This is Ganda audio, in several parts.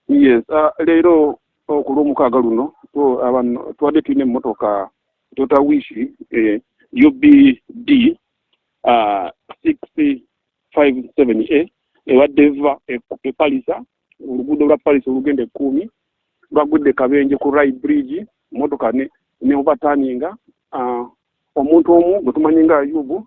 yes uh, leero oh, ku lwomukaaga luno oh, abantu tubadde tulina emmotoka tota wishi eh, ubd uh, six five seven a ebadde eva epalisa e oluguudo lwa palisa olugenda ekkuumi lwagudde kabenje ku rai bridge motoka ne, ne overturninga uh, omuntu omu gwe tumanyi nga yubu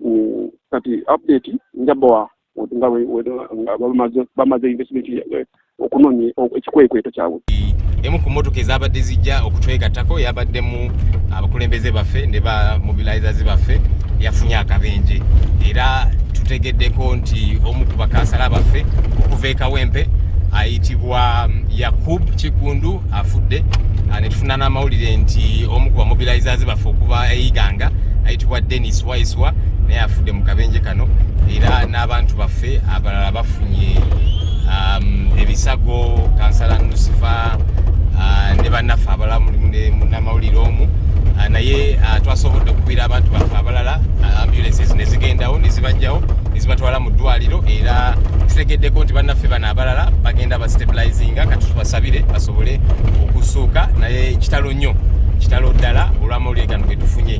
mm, kati update njabawa nga bamaze investment eh, okunoonya ekikwekweto kyabwe emu ku motoka ezabadde zijja okutwegattako yabaddemu abakulembeze baffe ne ba mobilizers baffe yafunye akabenje era tutegeddeko nti omu ku bakansala baffe okuva ekawempe ayitibwa mm, yakub kigundu afudde ah, ne tufuna n'amawulire nti omu ku bamobilizers baffe okuva eiganga ayitibwa denis waiswa naye afudde mu kabenje kano era n'abantu baffe abalala bafunye um, ebisago kansala nusifa ah, ne bannaffe abalala mulimu ne munamawulire omu ah, naye twasobodde okukwira abantu baffe abalala ambulances ne zigendawo ne zibajjawo ne zibatwala mu ddwaliro era tutegeddeko nti bannaffe bano abalala bagenda stabilizinga kati tubasabire basobole okusuuka naye kitalo nnyo kitalo ddala olwamawulire gano getufunye